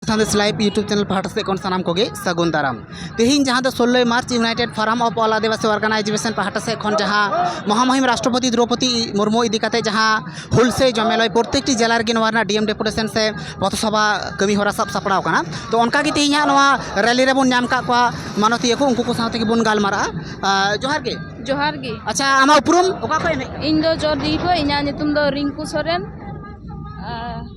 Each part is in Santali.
ᱥᱟᱸᱫᱮᱥ ᱞᱟᱭᱤᱵ ᱭᱩᱴᱩᱵᱽ ᱪᱮᱱᱮᱞ ᱯᱟᱦᱴᱟ ᱥᱮᱫ ᱠᱷᱚᱱ ᱥᱟᱱᱟᱢ ᱠᱚᱜᱮ ᱥᱟᱹᱜᱩᱱ ᱫᱟᱨᱟᱢ ᱛᱮᱦᱮᱧ ᱡᱟᱦᱟᱸ ᱫᱚ ᱥᱳᱞᱞᱳᱭ March united forum of all Adivasi organisation ᱯᱟᱦᱴᱟ ᱥᱮᱫ ᱠᱷᱚᱱ ᱡᱟᱦᱟᱸ ᱢᱚᱦᱟᱢᱚᱦᱤᱢ ᱨᱟᱥᱴᱨᱚᱯᱚᱛᱤ ᱫᱨᱳᱯᱚᱫᱤ ᱢᱩᱨᱢᱩ ᱤᱫᱤ ᱠᱟᱛᱮ ᱡᱟᱦᱟᱸ ᱦᱩᱞ ᱥᱮ ᱡᱚᱢᱮᱞᱟᱭ ᱯᱨᱚᱛᱮᱠᱴᱤ ᱡᱮᱞᱟ ᱨᱮᱜᱮ ᱱᱚᱣᱟ ᱨᱮᱱᱟᱜ ᱰᱤᱮᱢ ᱰᱮᱯᱩᱴᱮᱥᱚᱱ ᱥᱮ ᱯᱚᱛᱷᱚᱥᱚᱵᱷᱟ ᱠᱟᱹᱢᱤ ᱦᱚᱨᱟ ᱥᱟᱵ ᱥᱟᱯᱲᱟᱣ ᱠᱟᱱᱟ ᱛᱚ ᱚᱱᱠᱟ ᱜᱮ ᱛᱮᱦᱮᱧ ᱦᱟᱸᱜ ᱱᱚᱣᱟ ᱨᱮᱞᱤ ᱨᱮᱵᱚᱱ ᱧᱟᱢ ᱠᱟᱜ ᱠᱚᱣᱟ ᱢᱟᱱᱚᱛᱤᱭᱟᱹ ᱠᱚ ᱩᱱᱠᱩ ᱠᱚ ᱥᱟᱶ ᱛᱮᱜᱮ ᱵᱚᱱ ᱜᱟᱞᱢᱟᱨᱟᱜᱼᱟ ᱡᱚᱦᱟᱨ ᱜᱮ ᱡᱚᱦᱟᱨ ᱜᱮ ᱟᱪᱪᱷᱟ ᱟᱢᱟᱜ ᱩᱯᱨᱩᱢ ᱚᱠᱟ ᱠᱷᱚᱱ ᱮᱢ ᱦᱮᱡ ᱟᱠᱟᱱᱟ ᱤᱧ ᱫᱚ ᱡᱚᱨᱫᱤ ᱠᱷᱚᱱ ᱤᱧᱟᱹᱜ ᱧᱩᱛᱩᱢ ᱫᱚ ᱨᱤᱝᱠᱩ ᱥᱚᱨᱮᱱ ᱟᱨ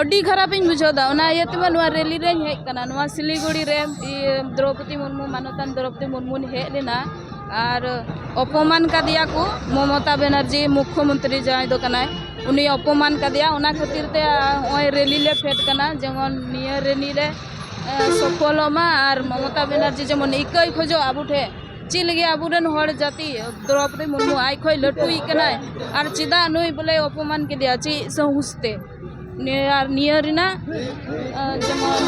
ᱟᱹᱰᱤ ᱠᱷᱟᱨᱟᱯ ᱤᱧ ᱵᱩᱡᱷᱟᱹᱣ ᱮᱫᱟ ᱚᱱᱟ ᱤᱭᱟᱹ ᱛᱮᱢᱟ ᱱᱚᱣᱟ ᱨᱮᱞᱤ ᱨᱮᱧ ᱦᱮᱡ ᱟᱠᱟᱱᱟ ᱱᱚᱣᱟ ᱥᱤᱞᱤᱜᱩᱲᱤ ᱨᱮ ᱤᱭᱟᱹ ᱫᱨᱳᱣᱯᱚᱫᱤ ᱢᱩᱨᱢᱩ ᱢᱟᱱᱚᱛᱟᱱ ᱫᱨᱳᱣᱯᱚᱫᱤ ᱢᱩᱨᱢᱩᱧ ᱦᱮᱡ ᱞᱮᱱᱟ ᱟᱨ ᱚᱯᱚᱢᱟᱱ ᱠᱟᱫᱮᱭᱟ ᱠᱚ ᱢᱚᱢᱚᱛᱟ ᱵᱮᱱᱟᱨᱡᱤ ᱢᱩᱠᱠᱷᱚ ᱢᱚᱱᱛᱨᱤ ᱡᱟᱦᱟᱸᱭ ᱫᱚ ᱠᱟᱱᱟᱭ ᱩᱱᱤ ᱚᱯᱚᱢᱟᱱ ᱠᱟᱫᱮᱭᱟ ᱚᱱᱟ ᱠᱷᱟᱹᱛᱤᱨ ᱛᱮ ᱱᱚᱜᱼᱚᱭ ᱨᱮᱞᱤ ᱞᱮ ᱯᱷᱮᱰ ᱠᱟᱱᱟ ᱡᱮᱢᱚᱱ ᱱᱤᱭᱟᱹ ᱨᱮᱞᱤ ᱨᱮ ᱥᱚᱯᱷᱚᱞᱚᱜ ᱢᱟ ᱟᱨ ᱢᱚᱢᱚᱛᱟ ᱵᱮᱱᱟᱨᱡᱤ ᱡᱮᱢᱚᱱ ᱤᱠᱟᱹᱭ ᱠᱷᱚᱡᱚᱜ ᱟᱵᱚ ᱴᱷᱮᱱ ᱪᱮᱫ ᱞᱟᱹᱜᱤᱫ ᱟᱵᱚᱨᱮᱱ ᱦᱚᱲ ᱡᱟᱹᱛᱤ ᱫᱨᱚᱯᱚᱫᱤ ᱢᱩᱨᱢᱩ ᱟᱡ ᱠᱷᱚᱡ ᱞᱟᱹᱴᱩᱭᱤᱡ ᱠᱟᱱᱟᱭ ᱟᱨ ᱪᱮᱫᱟᱜ ᱱᱩᱭ ᱵᱚᱞᱮ ᱚᱯᱚᱢᱟᱱ ᱠᱮᱫᱮᱭᱟ ᱪᱮᱫ ᱥᱟᱦᱩᱥ ᱛᱮ ᱟᱨ ᱱᱤᱭᱟᱹ ᱨᱮᱱᱟᱜ ᱡᱮᱢᱚᱱ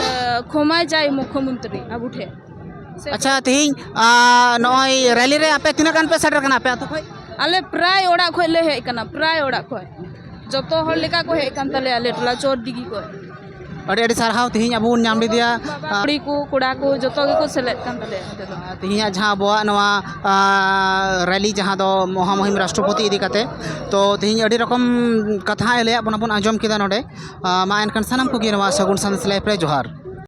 ᱠᱷᱚᱢᱟᱭ ᱪᱟᱭ ᱢᱩᱠᱷᱚ ᱢᱚᱱᱛᱨᱤ ᱟᱵᱚ ᱴᱷᱮᱱ ᱟᱪᱪᱷᱟ ᱛᱮᱦᱮᱧ ᱱᱚᱜᱼᱚᱭ ᱨᱮᱞᱤ ᱨᱮ ᱟᱯᱮ ᱛᱤᱱᱟᱹᱜ ᱜᱟᱱ ᱯᱮ ᱥᱮᱴᱮᱨ ᱠᱟᱱᱟ ᱟᱯᱮ ᱟᱛᱳ ᱠᱷᱚᱡ ᱟᱞᱮ ᱯᱨᱟᱭ ᱚᱲᱟᱜ ᱠᱷᱚᱡ ᱞᱮ ᱦᱮᱡ ᱠᱟᱱᱟ ᱯᱨᱟᱭ ᱚᱲᱟᱜ ᱠᱷᱚᱡ ᱡᱚᱛᱚ ᱦᱚᱲ ᱞᱮᱠᱟ ᱠᱚ ᱦᱮᱡ ᱠᱟᱱ ᱛᱟᱞᱮᱭᱟ ᱟᱞᱮ ᱴᱚᱞᱟ ᱪᱚᱨ ᱫᱤᱜᱷᱤ ᱠᱷᱚᱡ ᱟᱹᱰᱤ ᱟᱹᱰᱤ ᱥᱟᱨᱦᱟᱣ ᱛᱮᱦᱮᱧ ᱟᱵᱚ ᱵᱚᱱ ᱧᱟᱢ ᱞᱮᱫᱮᱭᱟ ᱠᱩᱲᱤ ᱠᱚ ᱠᱚᱲᱟ ᱠᱚ ᱡᱚᱛᱚ ᱜᱮᱠᱚ ᱥᱮᱞᱮᱫ ᱠᱟᱱ ᱛᱟᱞᱮᱭᱟ ᱱᱚᱛᱮ ᱫᱚ ᱛᱮᱦᱮᱧᱟᱜ ᱡᱟᱦᱟᱸ ᱟᱵᱚᱣᱟᱜ ᱱᱚᱣᱟ ᱨᱮᱞᱤ ᱡᱟᱦᱟᱸ ᱫᱚ ᱢᱚᱦᱟ ᱢᱩᱦᱤᱢ ᱨᱟᱥᱴᱨᱚᱯᱚᱛᱤ ᱤᱫᱤ ᱠᱟᱛᱮ ᱛᱚ ᱛᱮᱦᱮᱧ ᱟᱹᱰᱤ ᱨᱚᱠᱚᱢ ᱠᱟᱛᱷᱟᱭ ᱞᱟᱹᱭᱟᱫ ᱵᱚᱱᱟ ᱵᱚᱱ ᱟᱸᱡᱚᱢ ᱠᱮᱫᱟ ᱱᱚᱰᱮ ᱢᱟ ᱮᱱᱠᱷᱟᱱ ᱥᱟᱱᱟᱢ ᱠᱚᱜᱮ ᱱᱚᱣᱟ ᱥᱟᱹᱜᱩᱱ ᱥᱟᱸᱫᱮᱥ ᱞᱟᱭᱤᱯᱷ ᱨᱮ ᱡᱚᱦᱟᱨ